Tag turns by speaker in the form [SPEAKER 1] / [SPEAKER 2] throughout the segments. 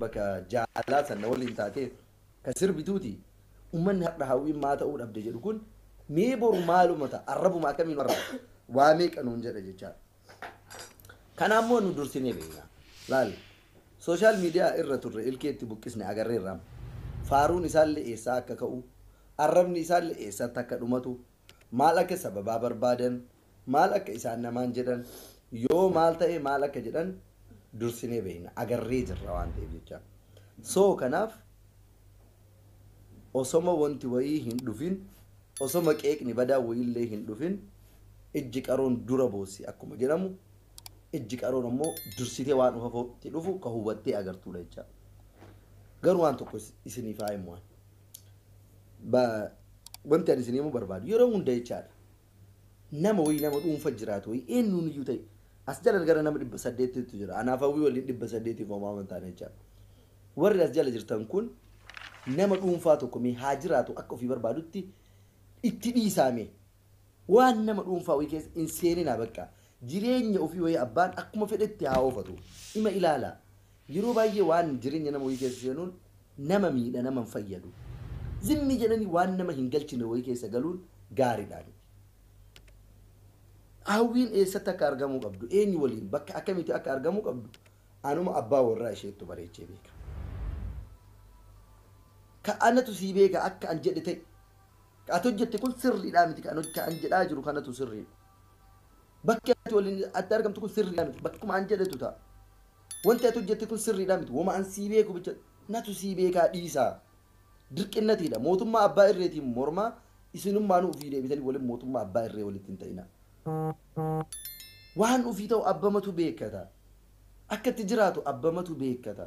[SPEAKER 1] bakka jaalaa sanna waliin taatee kan sirbituuti ummanni har'a hawwiin maa ta'uu dhabde jedhu kun mee boru maaluma ta'a arrabuma akkamiin warra waa meeqa nuun jedha jechaa kanaa immoo nu dursinee beekna laal sooshaal miidiyaa irra turre ilkeetti buqqisne agarreerraam faaruun isaallee eessaa akka ka'u arrabni isaallee eessatti akka dhumatu maal akka sababaa barbaadan, maal akka isaan namaan jedhan, yoo maal ta'e maal akka jedhan dursinee beekna, agarree jirra waan ta'eef jecha. So kanaaf osoma wanti wayii hin dhufin, osoma qeeqni badaan wayiillee hin dhufin ijji qaroon dura boossi akkuma jedhamu ijji qaroon ammoo dursitee waan ufafootti dhufu ka hubattee agartuudha jecha. Garuu waan tokko isiniif haa himu ani. Ba wanti ani isin himuu barbaadu yeroo hunda jechaadha. Nama wayii nama dhuunfa jiraatu wayii eenyuun iyyuu ta'e as jala gara nama dhibba saddeettiitu jira. Anaaf hawwii waliin dhibba saddeetiif homaa waan taane jechaadha. Warri as jala jirtan kun nama dhuunfaa tokko mee haa jiraatu akka ofii barbaadutti itti dhiisaame. Waan nama dhuunfaa wayii keessa hin seeninaa baqqaa. Jireenya ofii wayii abbaan akkuma fedhetti haa oofatu. Ima ilaalaa. Yeroo baay'ee waan jireenya nama wayii keessa seenuun nama miidha nama hin fayyadu. Zimmi jedhanii waan nama hin galchine wayii keessa galuun gaariidhaa miti. Hawwiin eessatti akka argamuu qabdu, eenyu waliin, bakka akkamiitti akka argamuu qabdu anuma abbaa warraa isheettu bareechee beeka. Ka anatu sii beeka akka an jedhe ta'i. Ka ati hojjette kun sirriidhaa miti ka an ka an jedhaa jiru kanatu sirriidha. Bakki ati waliin atti argamtu kun sirriidhaa miti bakkuma an jedhetu ta'a. Wanti ati hojjette kun sirriidhaa miti woma an sii beeku bicha natu sii beekaa dhiisaa. Dirqinnatiidha mootummaa abbaa irreetiin mormaa isinummaanuu ufii deebitanii walin mootummaa abbaa irree walitti hin ta'inaa. Waan ufii ta'u abbamatu beekkata. Akka itti jiraatu abbamatu beekkata.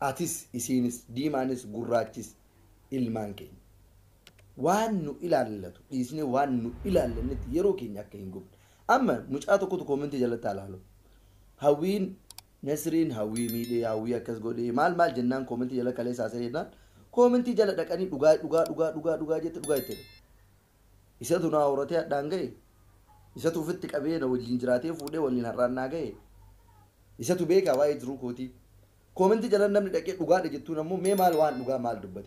[SPEAKER 1] Atis, isiinis, diimaanis, gurraachis ilmaan keenya. Waan nu ilaallatu dhiisnee waan nu ilaallannetti yeroo keenya akka hin gubne. Amma mucaa tokkotu koomentii jalatti haa laalu. Hawwiin Nasriin hawwii miidhee hawwii akkas godhee maal maal jennaan koomentii jala kaleessa haasa'ee jennaan koomentii jala dhaqanii dhugaa dhugaa dhugaa dhugaa dhugaa jette dhugaa itti jedhu. Isatu na horatee hadhaan gahe Isatu ofitti qabee na wajjin jiraatee fuudhee waliin har'aan naa gahe Isatu beekaa waa'ee jiruu kootii Comment jalan namni dhaqee dhugaadha jettuun ammoo mee maal waan dhugaa maal dubbatee.